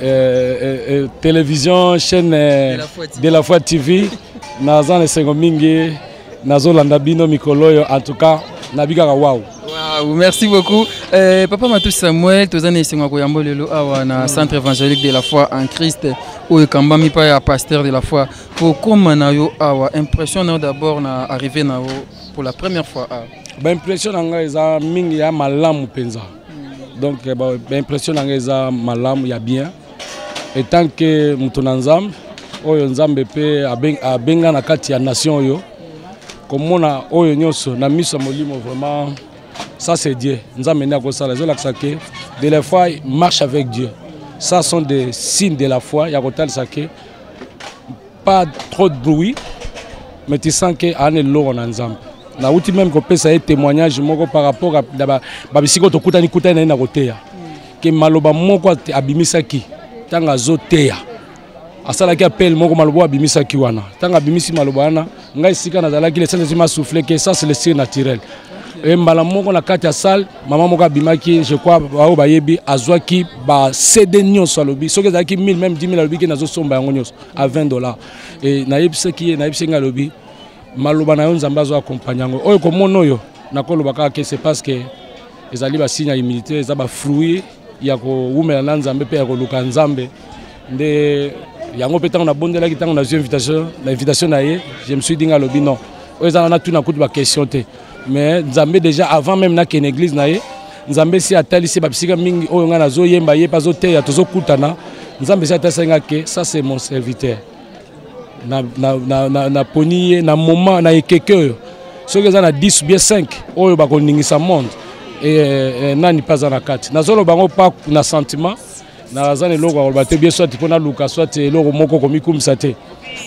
Euh, euh, euh, télévision chaîne euh, de la foi tv naza na esengo mingi nazolanda bino mikolo oyo en tout cas nabikaka wawu Wow, merci beaucoup. Euh, Papa Matou Samuel, tous les Seigneurs Koyambo Lelo, awa na Centre évangélique de la foi en Christ, ou Kamba mi pa ya pasteur de la foi. Pour comment na yo awa impression na d'abord na arrivé na yo pour la première fois. Ah. Ba impression na nga eza mingi ya malamu penza. donc eh, baimpression na ngai eza malamu ya bien etant ke moto na nzambe oyo nzambe mpe abenga na kati ya nation oyo komona oyo nyonso na miso ya molimo vraiment ça c'est dieu nzambe nde akosala ezolakisa ke de la foi marche avec dieu ça sont des signes de la foi ya kotalisa ke pas trop de bruit mais tu sens que ane loro na nzambe nauti meme kopesa ye témoignage moko par rapport na babisika oyo tokutani kutani na ye na koteya ke maloba moko abimisaki ntango azoteya asalaki appel moko maloba oyo abimisaki wana ntango abimisi maloba wana ngai esika nazalaki lesantesi masouffle ke sas le sir naturel e mbala moko na kati ya salle mama moko abimaki je crois baoyo bayebi azwaki ba cd nyonso alobi soki ezalaki 1000 meme 10 000 alobi ke nazosomba yango nyonso à 20 dollars et nayebisaki ye nayebisaki ngai alobi maloba na yo nzambe azo accompagne yango oyo komona oyo nakoloba kaka ke c'est parce que ezali basigne ya humilité eza bafruit ya kowumela na nzambe mpe ya koluka nzambe nde yango mpe ntango nabondelaki ntango nazwi invitation na invitation na ye je me suis dinga alobi non oyo eza na natuna kutu baquestion te mais nzambe déjà avant même na ken église na ye nzambe si atalisi babisika mingi oyo ngai nazoyemba ye mpe azoteya tozokutana nzambe si atalisa ngai ke ça c'est mon serviteur na, na, na, na, na poni ye na moment na ekeke oyo soki eza na 10 bie 5 oyo bakoningisa monde e, e, nani mpe aza na kati nazoloba yango pa na sentiment naza na eloko ya koloba te bie soit mpo naluka soit eloko moko komikumisa te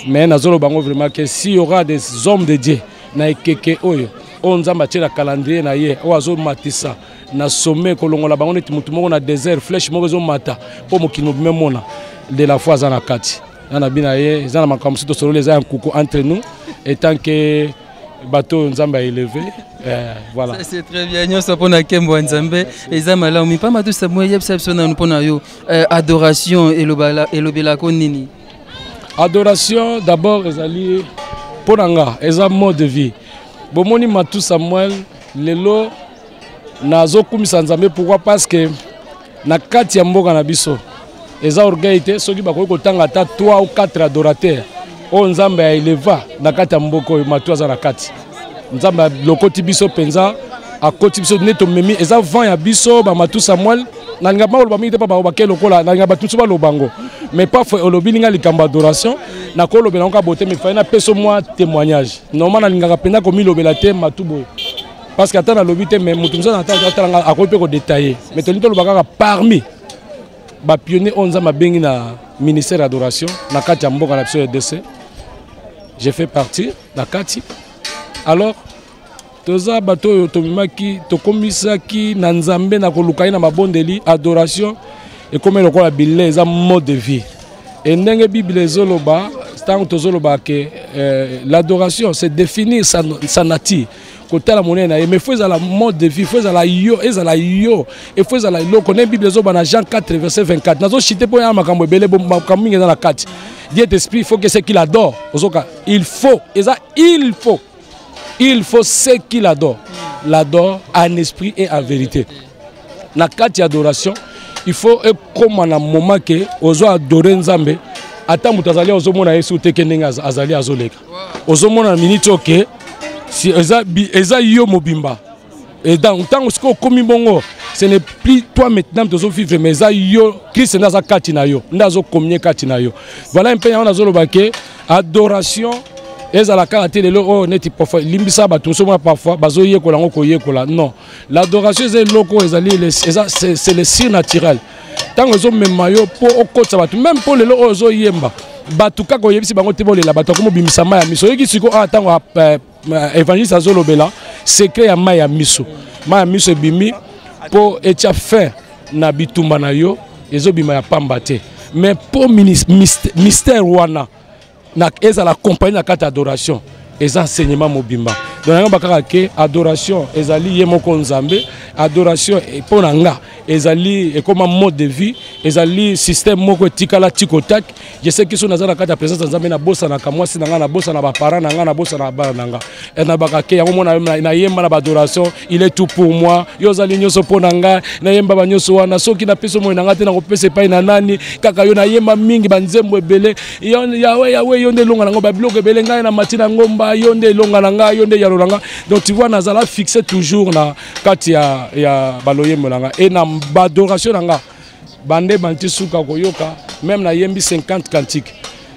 mais nazoloba yango vraiment ke si y aura des hommes de dieu na ekeke oyo oyo nzambe atyela calendrier na ye oyo azomatisa na sommet kolongola bango neti motu moko na désert flèche moko ezomata mpo mokili mobima emona de la foi aza na kati na na bina ye eza na makambo mosusu tosololi eza ya nkuku entre nous etant que bato oyo nzambe aeleve eh, voilà c'est très bien nyonso mpo na kembo ya nzambe eza malamu mipamba tosa mwa yebisa biso nanu mpo na yo eh, adoration elobelako nini adoration d'abord ezali mpo na nga eza mode de vie bomoni matu samuel lelo nazokumisa nzambe pourquoi parce que na kati ya mboka na biso eza orgueil te soki bakoki kotanga ata 3 ou 4 adorateur oyo nzambe ya eleva na kati ya mboka oyo matu aza na kati nzambe alokoti biso mpenza akoti biso nde tomemi eza vent ya biso bamatu samuel nalinga bakoloba mingi te mpo bango bake lokola nalinga bato mosusu baloba yango mais paf olobi linga likambo adoration nakolobela yango kaka bote mifai napeso mwa témoignage normal nalingaka mpenza komilobela te matu boye parce que ata nalobi te mais moto mosusu atala ngai akoki mpe kodetaille mais tolingi toloba kaka parmi bapionnier oyo nzambe abengi na ministère adoration na kati ya mboka na biso rdc je fais partie na kati alors toza bato oyo tomemaki tokomisaki na nzambe na koluka ye na mabondeli adoration ekomi lokola bile eza mode de vie e ndenge biblia ezoloba ntango tozoloba ke eh, l'adoration c'est définir sa, sa nature kotala monene na ye mais faut ezala mode de vie faut ezala yo ezala yo e faut ezala eloko nde bible ezoba na jean 4 verset 24 nazochite mpo ya makambo ebele makambo mingi eza na kati dieu esprit faut que ce qu'il adore ozoka il faut eza il faut il faut ce qu'il adore l'adore en esprit et en vérité na kati ya adoration il faut ekóma na moment ke ozo adore nzambe ata moto azali ozomona yesu te ke ndenge azali azoleka ozomona na miniti oyo ke si eza, eza yo mobimba et donc ntango sikoyo okomi bongo ce n'est plus toi maintenant tozo vivre mais eza yo krist nde aza kati na yo nde azokomie kati na yo voilà mpe yango nazoloba ke adoration ezala kaka te lelo oyo oh, neti parfois limbisa bato mosusu mona parfois bazoyekola yango koyekola non l'adoration eza eloko oyo ezali c'est le sir naturel ntango ezomema yo mpo okotisa bato meme mpo lelo oyo ozoyemba bato kaka oyebisi bango te bolela bato akomi obimisa mai ya miso oyoki sikoyo awa ntango eh, eh, évangéliste azolobela secret ya mai ya miso mai ya miso ebimi mpo etya fin na bitumba na yo ezobima ya pamba te mais mpo mystère wana na ezala compagnie na kati adoration eza enseignement mobimba donc yango bakaka ke adoration ezali ye moko nzambe adoration eh, mpo na nga ezali ekoma eh, mode de vie ezali système moko etikala tikotak je sais kiso naza na kati ya présence ya nzambe nabosanaka mwasi na ngai nabosana baparent na ngai nabosana bana na ngai eh, nabaka ke yango mona nayemba na baadoration il est tout pour moi yo ozali nyonso mpo na ngai nayemba banyonso wana soki napesi omoi na ngai te nakopesa epai na nani kaka yo nayemba mingi banzembo ebele yawe yawe yo nde elonga na ngai babiloko ebele ngai na mati na ngomba yo nde elonga na ngai yo nde yalo na ngai donc tu vois nazala fixe toujours na kati ya, ya baloyembo na ngai e na badoration na ngai bande banti suka koyoka meme nayembi 50 cantique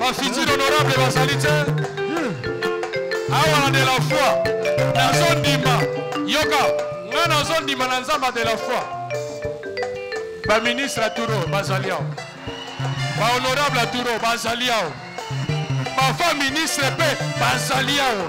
bafutur honorable bazali te awa na de la foi nazondima yoka ngai nazondima na nzambe de la foi baministre aturo bazali awa bahonorable aturo bazali awa bafa ministre mpe bazali awa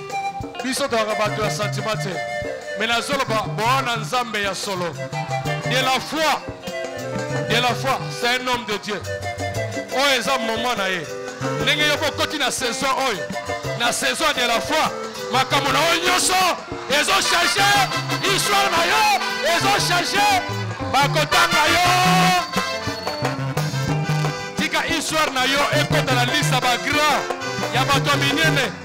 biso tozalaka bato ya santima te me nazoloba boa na nzambe ya solo de la foi de la foi c'est un homme de dieu oyo eza moment na ye ndenge yoko okoti na saison oyo na saison de la foi makambo na yo nyonso ezochange histoire na yo ezochange bakotanga yo tika histoire na yo ekota na lisa bagrand ya bato minene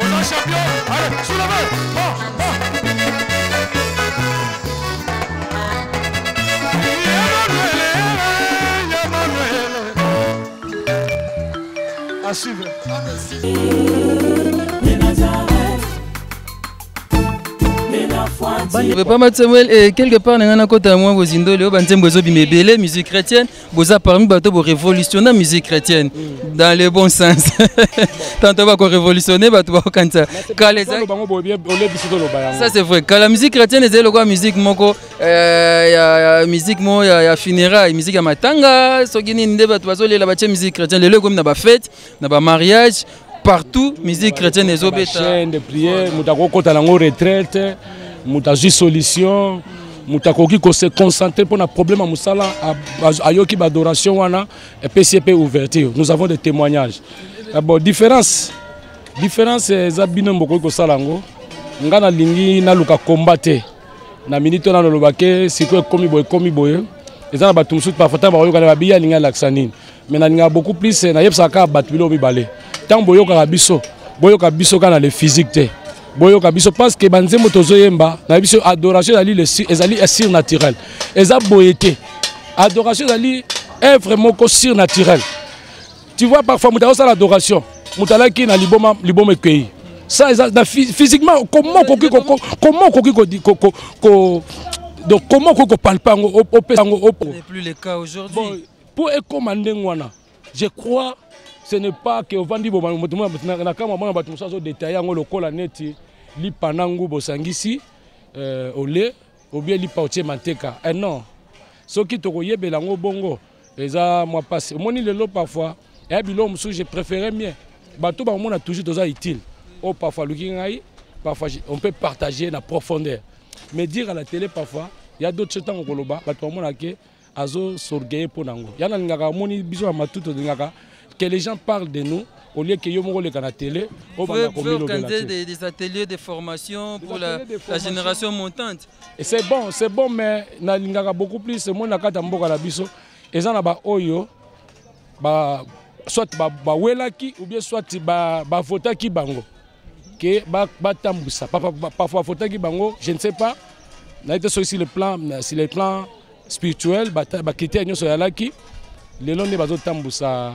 Oza champion, allez, soulevez, bon, bon. À suivre. Papa Samuel, eh, quelque part, na nga nakota na mwa bozindo leo banzembo ezobima ebele musique chrétienne boza parmi bato bo révolutionner musique chrétienne mm. dans le bon sens tanto bako révolutionner bato bakokanisa kala eza ça c'est vrai kala musique chrétienne ezali lokola musique moko euh, ya musique moko ya funérailles musique ya matanga soki nini nde bato bazolela batie musique chrétienne lelo ekomi na bafete na ba mariage partout musique chrétienne ezobeta chaîne de prière moto akokota nango retraite moto azwi solution moto akoki kose concentrer mpo na problème ya mosala ayoki baadoration wana epesi ye mpe ouverture nous avons des témoignages eh bon différence différence eza bino bokoki kosala yango ngai nalingi naluka komba te na minute wana nalobake sikoyo ekomi boye ekomi boye eza na bato mosusu parfois ntango bakoyokana babiya alingi alakisa nini mais nalingaka beaucoup plus eh, nayebisaka kaka bato biloko mibale ntango boyokaka biso boyoka biso kaka na le physique te boyoka biso parce que banzembo tozoyemba nayebi biso adoration ezali ezali surnaturel eza boye te adoration ezali œuvre moko surnaturel tu vois parfois moto azosala adoration moto alaki na liboma liboma ekei ça eza na physiquement comment okoki comment okoki donc comment okoki kopalpa yango opesa yango Pour ekoma ndenge wana, je crois ce n'est pas que ovandi bo moto mona na kama mona bato mosusu azodetaye yango lokola neti lipa na nguba osangisi euh, ole obie lipa otie manteka eh non soki tokoyebela yango bongo eza mwa mpasi omoni lelo parfois eya biloko mosusu je préféré mie bato bakomona toujours toza utile oyo oh, parfois aluki ngai parfois on peut partager na profondeur mais dire à la télé parfois ya d'autres ntango koloba bato bamonake azo s'orgueiller mpo na yango ya nalingaka amoni biso ya matuto olingaka que les gens parlent de nous au lieu que yo moko oleka na tele obanda komilobela des, des ateliers de formation pour la, de formation. la génération montante et c'est bon c'est bon mais nalingaka beaucoup plus moi na kati ya mboka na biso eza na baoyo ba, soit bawelaki ba ou bien soit bavotaki ba bango ke batambwisa ba, ba, ba, parfois bavotaki bango je ne sais pas naye te soki sur le plan sur le plan spirituel bakritère nyonso yalaki lelo nde bazotambusa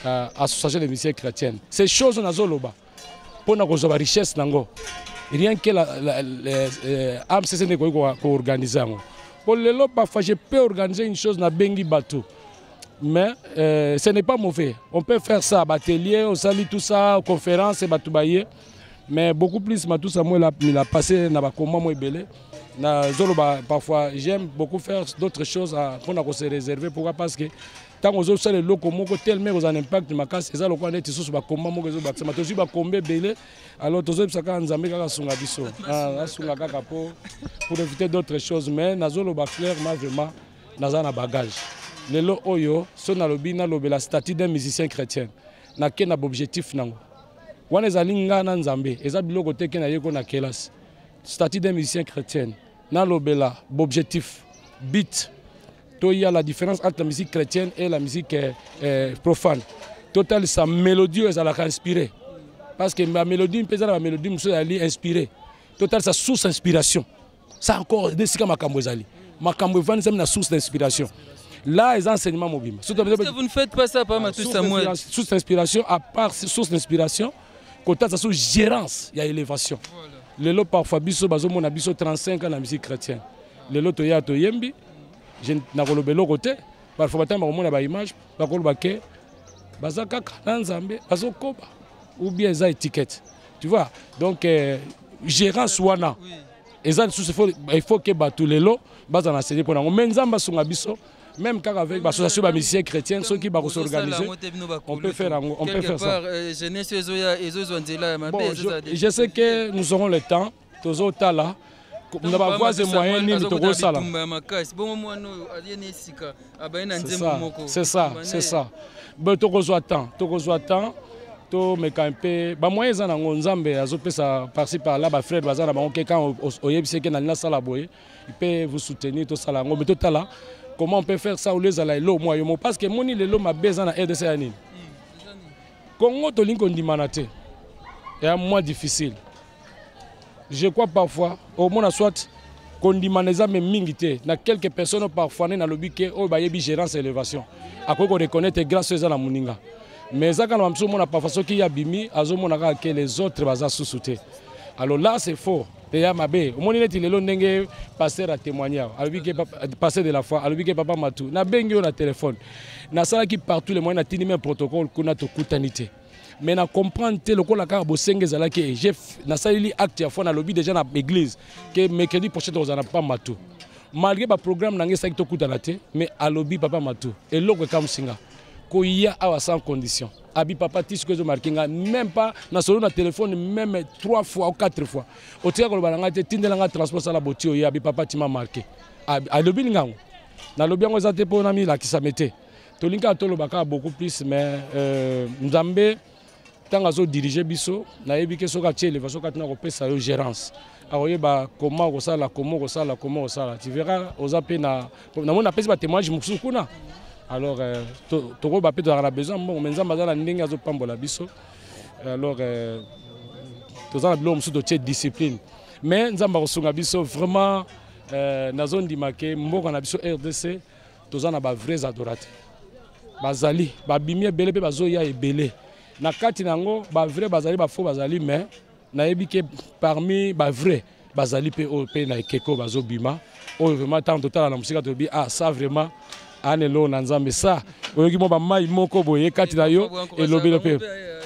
euh, association de musiciens chrétienne ces choses nazoloba mpo na kozwa barichesse nango rien que euh, amcc nde ekoki koorganize yango mpo lelo parfois je peux organiser une chose nabengi bato mais euh, ce n'est pas mauvais on peut faire ça batelier osali tout ça conférence bato baye mais beaucoup plus matusa moi la mila passé na ba combat moi belé na zolo ba parfois j'aime beaucoup faire d'autres choses à pour na se réserver pourquoi parce que tant aux autres les locaux moko tellement aux un impact ma casse ça le quoi net sous ba combat moi zolo ba ma tozi ba combat belé alors tozo ça quand nzambe kaka sunga biso ah sunga kaka pour pour éviter d'autres choses mais na zolo ba clairement vraiment na za na bagage lelo oyo so na lobi na lobela statut d'un musicien chrétien na ke na bobjectif nango wana ezali ngai na nzambe eza biloko te ke nayeko na kelasi statut d'un musicien chrétienne nalobela bobjectif bit toya la différence entre la musique chrétienne et la musique eh, eh, profane totalisa mélodie oyo ezalaka inspiré parce que bamélodie mpe eza na bamélodie mosusu ezali inspiré totalisa source inspiration ça encore nde esika makambo ezali makambo evandisami na source d'inspiration là eza enseignement mobimba source d'inspiration à part source d'inspiration kotasa so gérance ya élévation lelo parfois biso bazomona biso 35 ans na musique chrétienne lelo toya toyembi nakolobela eloko te parfois batango bakomona baimage bakoloba ke baza kaka na nzambe bazokoba ou bien eza étiquette tu vois donc euh, gérance wana eza lisusu il faut ke bato lelo bazala na sede mpo nango mai nzambe asunga biso même quand avec l'association des musiciens chrétiens, ceux qui vont s'organiser, on peut faire, on peut faire ça. Euh, bon, je, je sais que nous aurons le temps. tozotala na bavoise moyen nini tokosala c'est ça c'est ça bo tokozwa temps tokozwa temps tomeka mpe bamoyen eza nango nzambe azopesa parci par là bafrere baza na bango ke kan oyebisi eke nalingi nasala boye mpe vous soutenir tosala yango me totala comment on peut faire ça olie ezala elo mwa yo mo parce que emoni lelo mabe eza na rdc ya nini kongo tolingi kondimana te ya mwa difficile je crois parfois omona soit kondimana eza me mingi te na quelques personnes parfois nde nalobi ke oyo bayebi gérance ya élévation akoki koreconnaitre grâce oyo eza na moninga mais eza kaka na bamisusu omona parfois soki ye abimi azomona kaka ke les autres baza susu te alors là c'est faux eya mabe omoni neti lelo ndenge pasteur atémoigne awa alobi ke pasteur de la foi alobi ke papa matu nabengi yo na telefone nasalaki partout le moyen natindi meme protocole kuna tokutani te mais na comprendre te lokola kaka bosenga ezalaki eh, nasaleli acte ya foi nalobi déjà na église ke mercredi prochain tokozala na papa matu malgré baprogramme na ngai esalaki tokutana te mais alobi papa matu eloko ekamwisi nga koya awa sans condition abi papa ti soki ezomarke nga même pas na solo na telefone meme 3 fois ou 4 fois otika koloba na ngai te tindela ngai transport sala boti oye abi papa tima marke alobi lingango nalobi yango eza te mpo namilakisame te tolingi kaka toloba kaka beaucoup plus mais euh, nzambe ntango azodirige biso nayebi ke soki atie elevation kati na kopesa yo gérance akoyeba koma okosala koma okosala koma okosala tu verra oza mpe na namoni napesi batémoignage mosusu kuna alors euh, tokoyeba mpe tozalaka na besoin mbongo me nzambe aza na ndenge azopambola biso alors euh, toza na biloko mosusu totie discipline mais nzambe akosunga biso vraiment euh, nazondima ke mboka na biso rdc toza na ba vrais adorateurs bazali babimi ebele mpe bazoya ebele na kati na yango ba vrais bazali ba faux bazali mais nayebi ke parmi ba vrais bazali mpe oyo mpe na ekeko bazobima oyo vraiment ntango totala na mosika tolobi ah ça vraiment ane loo na nzambe sa oyoki mwa bamai moko boye kati na yo elobelo mpe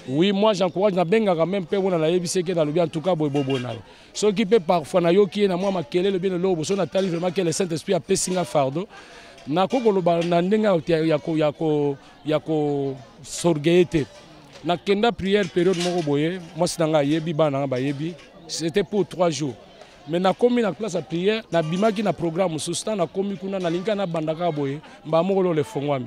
oui moi j'encourage nabengaka meme mpe mpona nayebisi eke nalobi en tout cas boye bobona yo soki mpe parfois nayoki ye na mwa makelele bino loo boso natali vraiment ke le saint esprit apesi nga fardo nakoki koloba na ndenge ya kosorge ye te nakenda prière periode moko boye mwasi na ngai ayebi bana na ngai bayebi c'était pour trois jours mais nakomi na place ya prière nabimaki na programme mosusu ntango nakomi kuna nalingi kaka nabanda kaka boye mbala moko lolo efongwami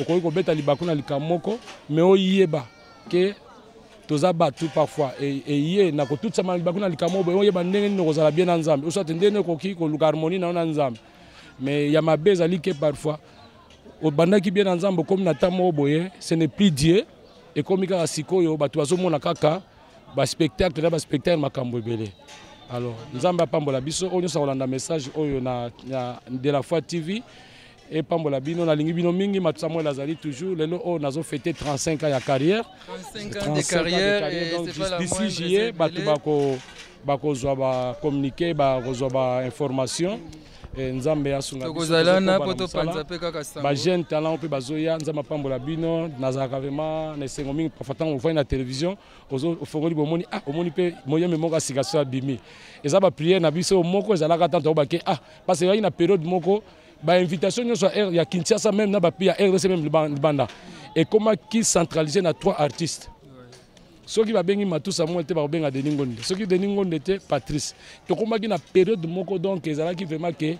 okoki kobeta libaku na likambo moko me oyeba ke toza bato parfois eye e, na kotutisama libaku na likambo oyo boye oyeba ndenge nini okozala bien na nzambe oswate ndenge nini okoki koluka harmonie na yo na nzambe me ya mabe ezali ke parfois obandaki bien na nzambe okomi na ntango moko boye ce n'est plus dieu ekomi kaka sikoyo bato bazomona kaka baspectacle na baspectacle makambo ebele alors nzambe apambola biso oyo nyonso akolanda message oyo na, na de la foi tv epambola bino nalingi bino mingi matu samuel azali toujours lelo oyo oh, nazo fete 35 ans ya carrière 35 ans de carrière d'ici juillet bato bako bakozwa ba communiquer bakozwa ba information eh, nzambe asunga tokozala na po topanza mpe kaka sango bajeune talent mpe bazoya nzambe apambola bino nazalaka vraiment na esengo mingi parfois ntango ofandi na télévision ofongoli bomoni ah omoni mpe moyemi moko ya sika so abimi eza bapriere na biso moko ezalaka ntanto oyobake ah parce ezalaki na periode moko ba invitation nyoso ya air ya Kinshasa même na ba pays ya RDC même libanda et comment qui centraliser na trois artistes soki babengi matu samuel te bakobenga denis ngonde soki denis ngonde te patrice tokomaki na période moko donc ezalaki vraiment ke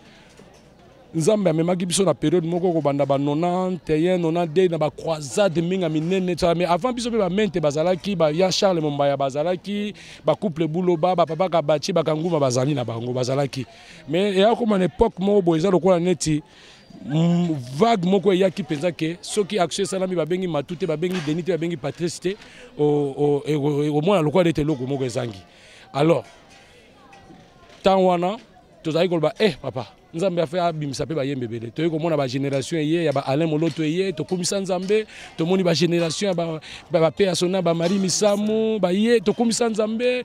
nzambe amemaki biso na période moko kobanda ba 91 92 na bacroisade mingi ya minene tsala mais avant biso mpe bamente bazalaki ya charles mombaya bazalaki bacouple buloba bapapa kabaci bakanguma bazali na bango bazalaki mais eya koma na epoque moko boye eza lokola neti mm, vague moko eyaki mpenza ke soki action esalami babengi matu te babengi deni te babengi patrice te omona lokola neti eloko moko ezangi alors ntango wana tozalaki koloba eh papa nzambe afe abimisa mpe bayembe ebele toyei komona bagénération eye ya baalain moloto eye tokumisa nzambe tomoni bagénération ya bapeasona bamarie misamu baye tokumisa nzambe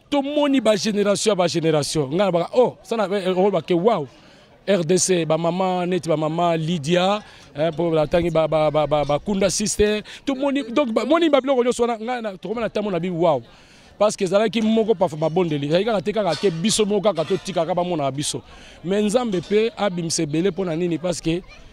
tomoni ba génération ya ba génération ngai nabaka oh sana eh, eh, oh, bake wow rdc bamama neti bamama lydia mpo eh, batangi bakunda sister tomoni donc bamoni babiloko nyonso wana ngai tokomana ntango na bi wow parce que ezalaki moko pafa mabondeli ezalaki kaka te kaka ke biso moko kaka totikaka bamonaka biso mais nzambe mpe abimisa ebele mpo na nini parce que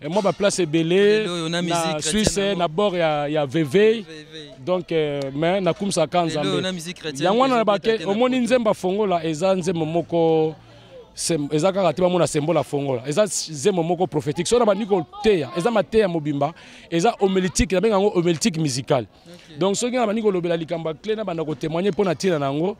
Et moi, ma place est belée. Na Suisse, na bord, il y a, y a Veve. Donc, euh, mais na kumsa kanza. Yango na bake, omoni nzemba fongola, eza nzemba moko eza kaka te bamona sembola fongola eza zemo moko prophétique soki na bandi koteya eza mateya mobimba eza homélitique nabenga yango homélitique musicale donc soki na bandi kolobela likambo ya cle na banda kotémoigne mpo na ntina na yango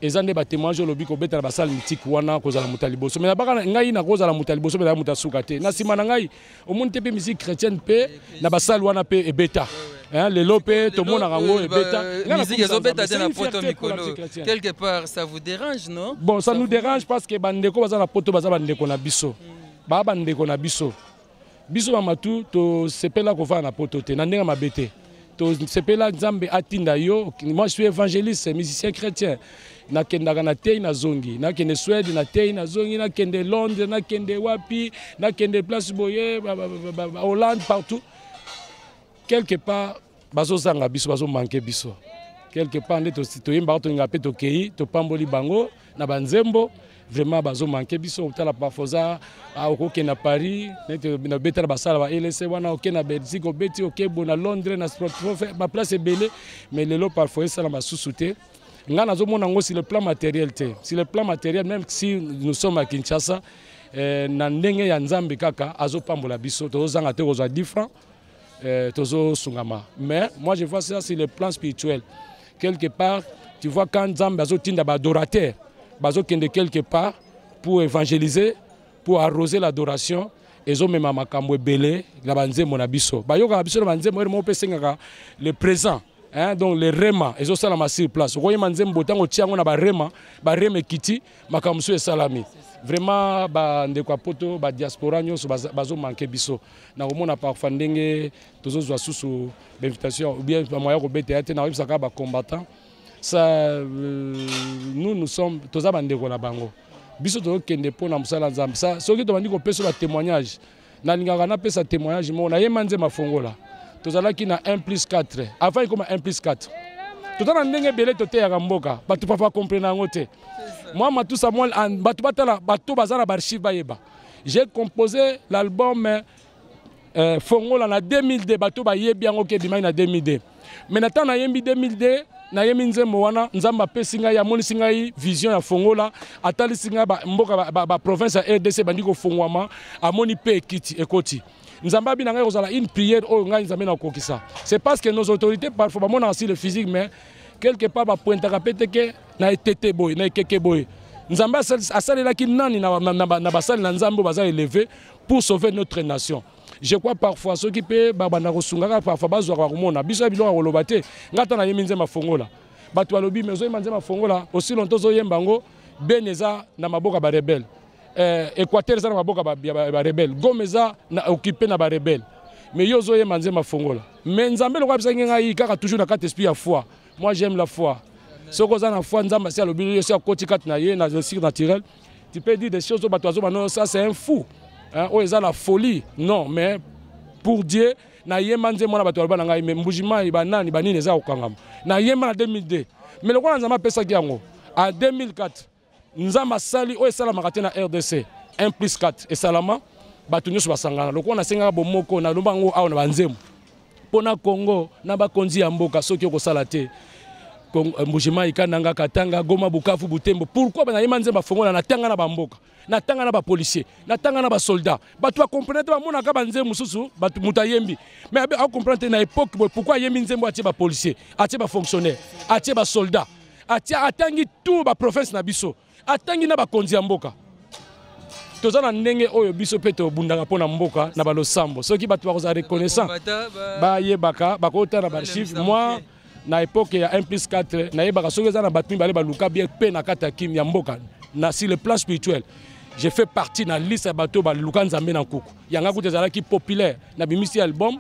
eza nde batémoignage olobi kobetela basali mitiki wana kozala moto ya liboso me nabaka ngai nakozala moto ya liboso mpe na moto ya suka te na nsima na ngai omoni te mpe misiki chrétienne mpe na basali wana mpe ebeta Hein, les lopes, tout le monde a rango et beta. Musique, ils ont beta dans la poto mikolo. Quelque part, ça vous dérange, non Bon, ça, ça nous dérange parce que bandeko baza na poto baza bandeko na biso. Ba bandeko na biso. biso ba matu tosepela kofana na poto te na ndenge mabe te tosepela nzambe atinda yo moi je suis évangéliste musicien chrétien nakendaka na tei nazongi nakende swede na tei nazongi nakende londres nakende wapi nakende place boye hollande partout quelque part bazozanga biso bazomanke biso quelque part nde toyembaka tolinga mpe tokei topamboli bango na banzembo vraiment bazomanke biso otala bafoza ah, okoke na paris neti nabetala basala ba lc wana oke na belgique obeti okebo na londres na sportprofe baplace ebele mais lelo parfois esala basusu te ngai nazomona yango sur le plan matériel te sur le plan matériel même si nous sommes à kinshasa eh, na ndenge ya nzambe kaka azopambola biso tozozanga te kozwa 10 francs euh, tozo sungama mais moi je vois ça sur le plan spirituel quelque part tu vois quand nzambe azotinda baadorateur bazokende quelque part pour évangéliser pour arroser l'adoration ezomema makambo ebele na banzembo na biso bayokaka biso na banzembo ere moko mpe esengaka le présent hein, donc le rema ezosalama sur place okoyema nzembo ntango otya yango na barema barema ekiti makambo mosusu esalami vraiment bandeko ya poto badiaspora nyonso bazomanke biso na komona parfois ndenge tozozwa susu bainvitation oubien bamoya kobeta ya te nakoyebisa kaka bacombattant sa euh, nous nous sommes toza bandeko na bango biso tozokende mpo na mosala ya nzambe soki tobandi kopesa batémoignage nalingaka napesa témoignage moko naye manze mafongola tozalaki na 1 plus 4 avant ekoma 1 plus 4 toza na ndenge ebele toteyaka mboka bato papa comprena yango te mwa matusa mwa bato batala bato baza na baarchive bayeba j'ai composé l'album euh, fongola na 2002 bato bayebi yango ke ebimaki na 2002 mais na ntango nayembi 2002 nayemi nzembo wana nzambe apesi ngai amonisi ngai vision ya fongola atalisi ngai mboka baprovince ya rdc ebandi kofongwama amoni mpe ekiti ekoti nzambe abi na ngai kozala une prière oyo ngai nzambe nakokisa c'est parce que nos autorités parfois bamonaka si le physique mais quelque part bapointaka mpe te ke na etete boye na ekeke boye nzambe asalelaki nani na basali na nzambe oyo baza eleve pour sauver notre nation je crois parfois soki mpe babanda kosungaka parfois bazwaka bakomona biso ya biloko ya koloba te ngai ata nayembi nzembo afongola bato balobi me ozoyemba nzembo afongola osi lonto ozoyemba yango beni eza na maboka barebele eh, équateur eza na maboka barebele gome eza na okipe na barebele me yo ozoyemba nzembo afongola me nzambe lokola abisaki ngai kaka toujours na kati esprit ya foi moi j'aime la foi soki oza na foi nzambe asi alobi yo si akoti kati na ye na sire naturel tu peux dire des choses oyo bato bazoba no ça c'est un fou oyo eza la folie non mais pour dieu nayemba nzembo wana bato baloba na ngai me mbujimai banani banini eza kokangama nayemba na 2002 me lokola nzambe apesaki yango a 2004 nzambe asali oyo esalamaka te na rdc 1 plus 4 esalama bato nyonso basangana lokola nasengaka bomoko nalomba yango awa na banzembo pona Congo na ba konzi ya mboka soki okosala te euh, Mbujimayi Kananga Katanga Goma Bukavu Butembo pourquoi bana yema nzemba fongola na tanga na ba mboka na tanga na ba policier na tanga na ba soldat bato ba comprendre te ba mona ka ba nzembo mususu bato muta yembi mais abe a comprendre te na époque boy pourquoi yembi nzembo atie ba policier atie ba fonctionnaire atie ba soldat atie atangi tout ba province na biso atangi na bakonzi ya mboka toza na ndenge oyo biso mpe tobundaka mpo na mboka na balosambo soki bato bakozala reconnaissant bayebaka bakota na baarchive mwa na epoke ya 1 plus 4 nayebaka soki eza na bato mibale baluka bien mpe na kati ya kim ya mboka na sur le plan spirituel je fais partie na liste ya bato baluka nzambe na nkuku yanga kutu ezalaki populaire na bimisi album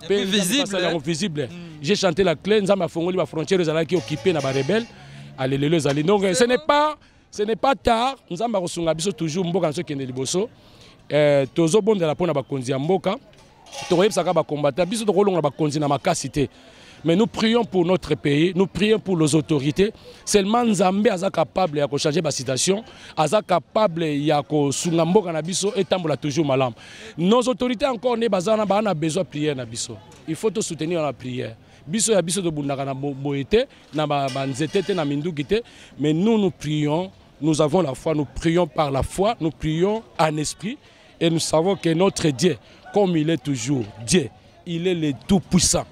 mpe basali yango visible mm. j'ai chanté la clé nzambe afongoli bafrontière ezalaki occupé na barebele alelelo ezali donc ce n'est pas ce n'est pas tard nzambe akosunga biso toujours mboka naso ekende liboso euh, tozobondela mpo na bakonzi ya mboka tokoyebisaka bakombata biso tokolongola bakonzi na makasi te Mais nous prions pour notre pays, nous prions pour nos autorités. Seulement Nzambe aza capable ya ko changer ba situation, aza capable ya ko sunga mboka na biso et tambola toujours malam. Nos autorités encore ne bazana ba na besoin prière na biso. Il faut te soutenir la prière. Biso ya biso tobundaka na boyete na ba nzete te na minduki te, mais nous nous prions, nous avons la foi, nous prions par la foi, nous prions en esprit. Et nous savons que notre Dieu, comme il est toujours Dieu, il est le Tout-Puissant.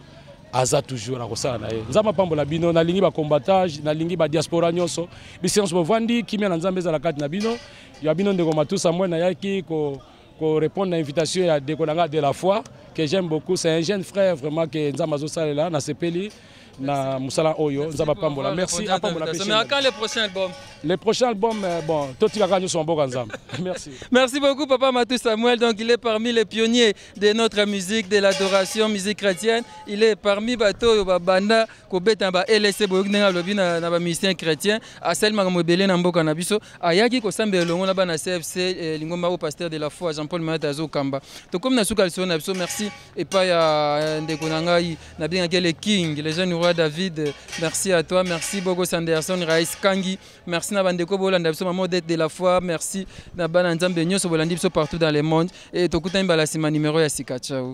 aza toujours nakosala na ye nzambe apambola bino nalingi bacombatage nalingi badiaspora nyonso biso nyonso bovandi kimia na nzambe ezala kati na bino ya bino ndeko matusa moi nayaki ko korépondre na invitation ya ndeko na ngai de la foi que j'aime beaucoup c'est un jeune frère vraiment que nzambe azosalela nasepeli na musala oyo nzambe apambola merci apambola pe mais quand le prochain album le prochain album euh, bon totika kaka nyonso mboka nzambe merci merci beaucoup papa Matou Samuel donc il est parmi les pionniers de notre musique de l'adoration musique chrétienne il est parmi bato oyo babanda kobeta ba LSC boyoki ndenge alobi na, na ba musiciens chrétiens asali makambo ebele na mboka na biso ayaki kosambela elongo na bana CFC eh, lingomba au pasteur de la foi Jean-Paul Mayata azokamba tokomi na suka lisolo na biso merci epai ya euh, ndeko na ngai nabengaki ye le king le jeune roi david merci à toi merci boko sanderson rais kangi merci na bandeko bolanda biso mama odete de la foi merci na bana nzambe nyonso bolandi biso partout dans le monde e tokutani mbala nsima numero ya sika ciao